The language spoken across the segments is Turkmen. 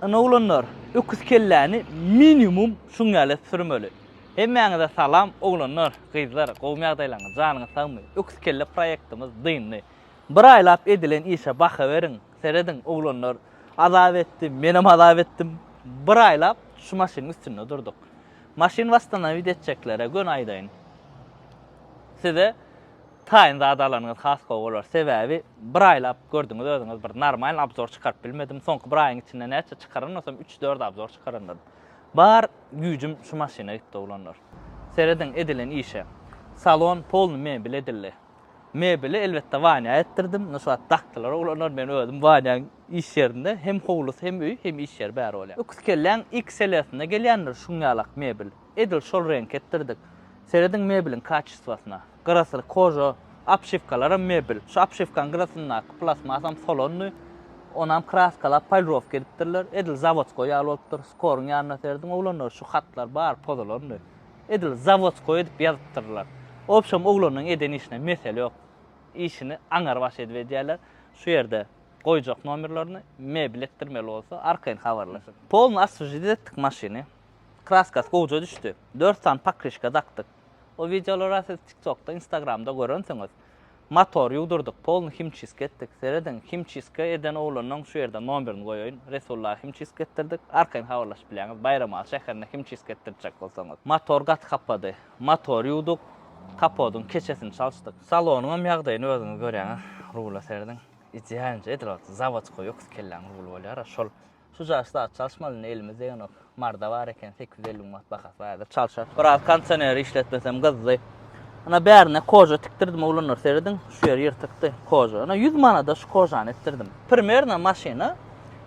Ine oglanlar öküz kelläni minimum şuň ýaly sürmeli. Hemmäňize salam oglanlar, gyzlar gowmy ýagdaýlaňyz janyňyz sagmy öküz kelle proýektimiz dyndy. Bir aýlap edilen işe baha beriň, serediň oglanlar azap etdi menem azap etdim bir aýlap şu maşynyň üstünde durduk. Maşyn wastanawid etjeklere göni aýdaýyn size. Taýyn zat alanyňyz has gowy bolar sebäbi bir aýlap gördüňiz özüňiz bir normalny abzor çykaryp bilmedim soňky bir aýyň içinde näçe çykaranasam üç dört abzor çykarandan bar güýjüm şu maşyna gitdi oglanlar serediň edilen işe salon polny mebel edildi mebeli elbetde Wanýa etdirdim indi şu wagt dakdylar oglanlar men özüm Wanýaň iş ýerinde hem howlusy hem öýi hem iş ýeri bäri bolýar öküz kelläň XL-sinde gelýändir şuňňalak mebel edil şol reňki etdirdik serediň mebeliň kaçistwasyna. Gyrasy koja obşiwkalaram mebel. Şu obşiwkanyň gyrasyndaky plastmasam solandy. Onam kraskalap, polirowka edipdirler. Edil zawodskoý ýaly bolupdyr. Skoryň ýanynda serdim, oglanlar şu hatlar bary pozulandy. Edil zawodskoý edip ýazypdyrlar. Obşem oglanyň eden işine mesele ýok. Işini aňar baş edip edýärler. Şu ýerde goýjak nomerlerini, mebel etdirmeli bolsa arkaýyn habarlaşyň. Polny oswežit etdik maşyny. Kraskasy gowja düşdi. Dört sany pokrişka dakdyk. O wideolara siz tiktokda instagramda görensiňiz motor ýuwdurdyk polny himçiska etdik serediň himçiska eden oglanyň şu ýerde nomerini goýaýyn resulla himçiska etdirdik arkaýyn habarlaşyp bilýäňiz baýramaly şäherinde himçiska etdirjek bolsaňyz motor gaty hapady motor ýuwduk kapodyň keçesini çalşdyk salonyňam ýagdaýyny özüňiz görýäňiz rula serediň idealnje edil ot zawodskoý öküz kelläň ruly bolýara şol Şujagaz saat çalyşmaly indi elimizde ýonok. Marda bar eken sekiz ýüz elli manat bahasy bar häzir çalyşar. Biraz kondisioneri işletmesem gyzdy. Ana bärine koža tikdirdim oglanlar serediň şu ýeri ýyrtykdy koža. Ana ýüz manada şu kožany etdirdim. Primerno maşyna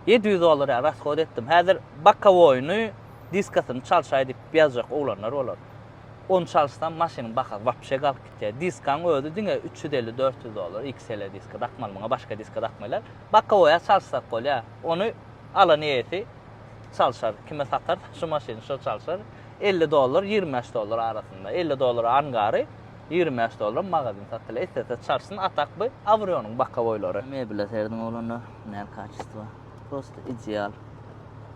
ýedi ýüz dollar ýaly rashod etdim. Häzir bokowoýyny diskasyny çalyşaý diýip ýazjak oglanlar bolar. Ony çalyşsam maşynyň bahasy wapşe galyp gitýär. Diskaň özi diňe üç ýüz elli dört ýüz dollar XL diska dakmaly muňa başga diska dakmaýlar. Bokowoýa çalyşsak bolýar. Ony alan eýesi çalşar. Kime satarsa şu maşyny şo çalşar. Elli dollar, ýigrimi bäş dollar arasynda. Elli dollara angary, ýigrimi bäş dollara magazin satylar. Islese çalşsyn, a tak bu awronyň bokawoýlary. Mebele serediň oglanlar, näl kaçestwo. Prosta ideal.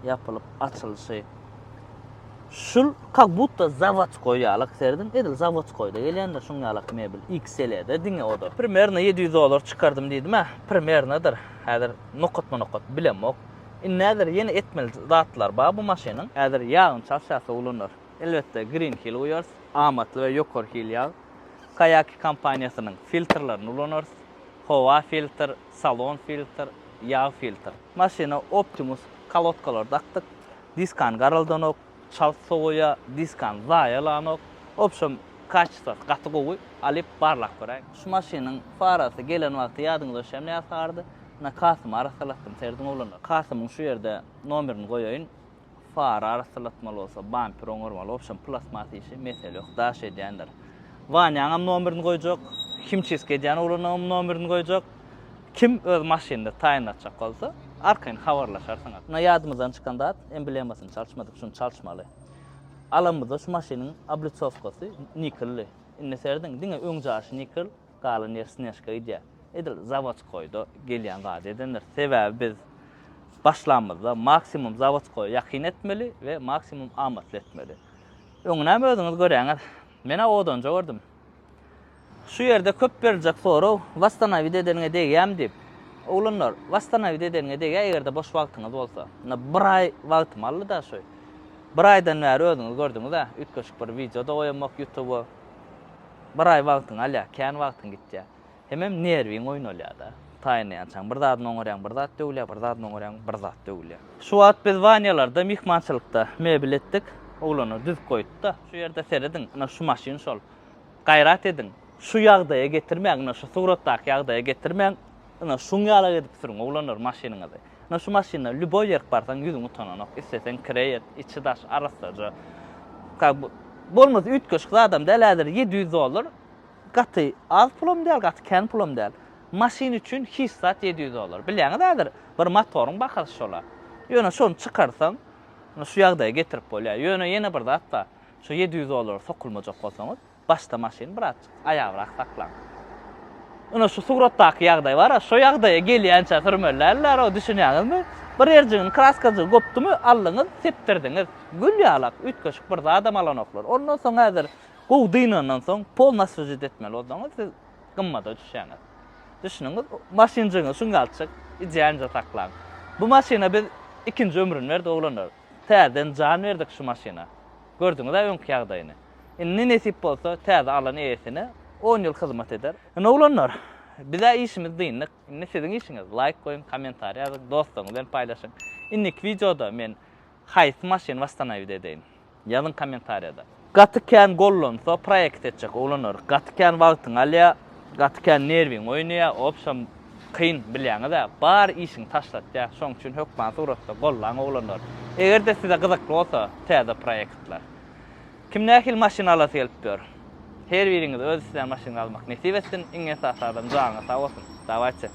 Ýapylyp açylyşy. Şul kak butta zawodskoý ýalak serediň. Edil zawodskoýda gelýändir şuň ýalak mebel. XL-de diňe o-da. Primerno ýedi ýüz dollar çykardym diýdim-ä. Primernodyr. Häzir Nokatma nokat bilemok. Indi häzir ýene etmeli zatlar bar bu maşynyň. Häzir ýagyny çalşasa ulanar. Elbetde Green Hill guýarys. Amatly we ýokary hil ýag. Kayaki kompaniýasynyň filtrlerini ulanarys. Howa filtr, salon filtr, ýag filtr. Maşyna Optimus kolodkalary dakdyk. Diskany garaldanok. Çalt sowaýa diskany zaýa alanok. Wobşem kaçestasy gaty gowy. Alyp barlap göräýiň. Şu maşynyň farasy gelen wagty ýadyňyza şemle ýasagardy. Ina Kasymy arassalatdym serediň oglanlar. Kasymyň şu ýerde nomerini goýaýyn. Fara arassalatmaly bolsa bamper oňarmaly. Wobşem plasmas işi mesele ýok. Daş edýändir. Wanýaňam nomerini goýjak. Himçistka edýän oglanlaňam nomerini goýjak. Kim öz maşynyny taýynlatjak bolsa, arkaýyn habarlaşarsyňyz. Ine ýadymyzdan çykan zat, emblemasyny çalyşmadyk, şuny çalyşmaly. Alanymyzda şu maşynyň obliçowkasy nikeldi. Indi serediň, diňe öň jaşy nikel, galan ýeri snežka gidýär. Edil zawodskoýda gelýän zady edendir. Sebäbi biz başlanymyzda maksimum zawodskoýa ýakyn etmeli we maksimum amatly etmeli. Öňünem özüňiz göräňiz. Men-ä odanja gördüm. Şu ýerde köp beriljek soraw, Wastanawiýt edeniňe degýämi diýip. Oglanlar, wastanawiýt edeniňe degýär, eger-de boş wagtyňyz bolsa. Ynha, bir aý wagtym aldy-da şu. Bir aýdan bäri özüňiz gördüňiz-ä, üýtgeşik bir wideo-da goýamok ýutuba. Bir aý wagtyňy alýar, kän wagtyň gitýär. Hemem nerwiň oýnalýar-da. Taýynlaýançaň bir zadyny oňarýaň, bir zat döwülýär, bir zadyny oňarýaň, bir zat döwülýär. Şu wagt biz Wanýalarda myhmançylykda mebel etdik. Oglanlar düzüp goýupdy-da. Şu ýerde serediň, ynha şu maşyn şol. Gaýrat ediň, şu ýagdaýa getirmäň, ine şu suratdaky ýagdaýa getirmäň, ine şuň ýalak edip sürüň oglanlar maşynyňyzy. Ine şu maşyndan lýuboý ýerik barsaň ýüzüň utananok, isleseň kireý et, içi daş arassaja. Kak bu bolmasa üýtgeşik zadam däl, häzir ýedi ýüz dollar gaty az pulam däl, gaty kän pulam däl. Maşyn üçin hiç zat ýedi ýüz dollar. Bilýäňiz häzir bir motoryň bahasy şola. Ýöne şony çykarsaň, ine şu ýagdaýa getirip bolýar. Ýöne ýene bir zat bar. Şu ýedi ýüz dollara sokulmajak bolsaňyz, başda maşyny birazjyk aýabrak saklaň. Ine, şu suratdaky ýagdaý bar-a, şo ýagdaýa gelýänçä sürmeli däldir-ä, düşünýäňizmi? Bir ýerjigiň kraskajygy gopdumy, aldyňyz, sepdirdiňiz. Gül ýalak, üýtgeşik bir zadam alanoklar. Ondan soň häzir gowy dynandan soň, pol naswejit etmeli bolsaňyz, siz gymmada düşýäňiz. Düşündiňiz? Maşynjygyňyzy şuňkalçyk idealnyja saklaň. Bu maşyna biz ikinji ömrüni berdik, oglanlar. Täzeden jan berdik şu maşyna. Gördüňiz-ä öňki ýagdaýyny. Indi nesip bolsa, täze alan eýesine on ýyl hyzmat eder. Ine oglanlar, biz-ä işimizi dyndyk. Indi siziň işiňiz, laýk goýuň, kommentariý ýazyň, dostlaryňyz bilen paýlaşyň. Indiki wideoda men haýsy maşyny wastanaýwid edeýin? Ýazyň kommentariýada. Gaty kän gollansa proekt etjek oglanlar gaty kän wagtyňy alýa, gaty kän nerwiňi oýnaýa, obşam kyn bilýäňizä, bar işiňi taşlatýa, şoň üçin hökman suratda gollaň oglanlar. Egerde size gyzykly bolsa täze proektler. Kim nähili maşyn alasy gelip ýör? Her biriňize öz islän maşynyňy almak nesip etsin, iň esasy adam janyňyz sag bolsun. Dawayçy.